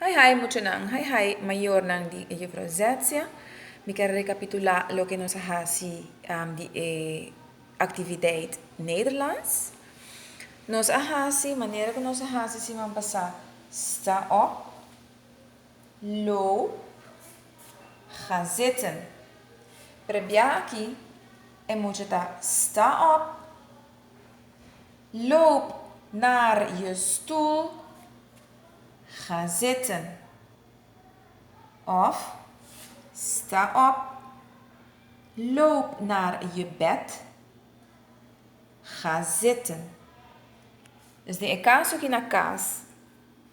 Hai hai muchanan, hai hai mayornan di e Juffrouw Zetzia. Mi ta rekapitulá loke nos a hasi di e aktiviteit Nederlands. Nos a hasi, manera ku nos a hasi siman pasá, Sta op, lo, ga zitten. Pero bia aki e mucha ta sta op, loop naar je stoel. Ga zitten. Of, Sta op. Loop naar je bed. Ga zitten. Dus den e caso aki na cas,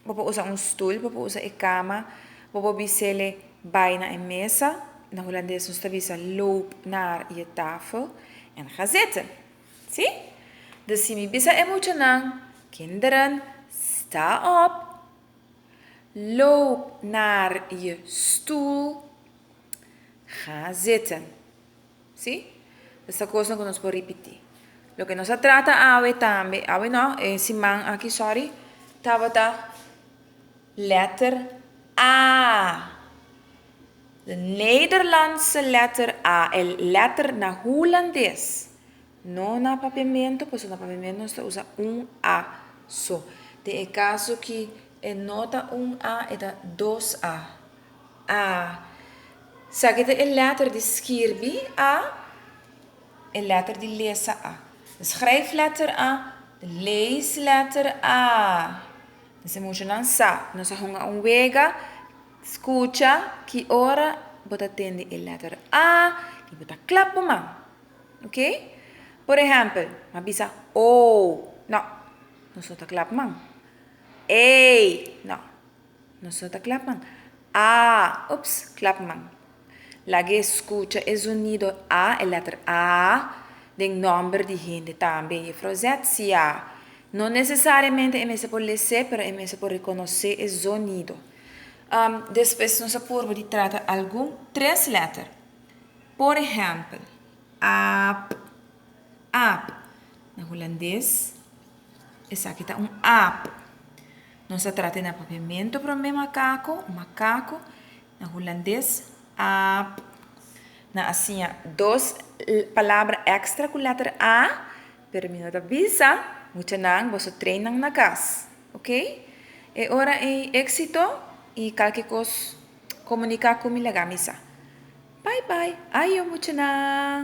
bo por usa un stoel, bo por usa e cama, bo por bisele bay na e mesa, na Hulandes nos ta bisa loop naar je tafel en ga zitten. Si? Dus si mi bisa e muchanan, Kinderen, sta op, loop naar je stoel, ga zitten. Si? Dus ta kosnan ku nos por ripití. Loke nos a trata awe tambe, awe no, e siman aki, sòri, tabata lèter A. De Nederlandse letter a e letter na Hulandes no na papiamento paso na papiamento nos ta usa un a so den e caso ki e no ta un a e ta dos a a sa ki ta e letter di skirbi a e letter di lesa a de schrijfletter a de leesletter a mester mushonan sa nos a hunga un wega Scucha ki ora bo ta tende e letter A y bo ta clap bo man. Ok? Por ehempel, m'a bisa oo, no, nos no ta clap man. Ey, no, nos no ta clap man. Aa, ups, clap man. Laga e scucha e zonido A, e letter A, den nomber di hende tambe. Juffrouw Z, siaa. No necesariamente e mester por lese, pero e mester por reconoce e zonido. Despues nos a purba di trata algun tres letter. Por ehèmpel, aap, aap. Na hulandes, esaki ta un aap. Nos a trata den apropiamentu promé, makaku, makaku. Na hulandes, aap. Nan a siña dos palabra èkstra ku letter a, pero mi no ta bisa. Muchanan, boso train nan na kas. Ok. E ora ei exito y calke cos comunica cu mi laga mi sa. Bye bye. Ayo muchanan.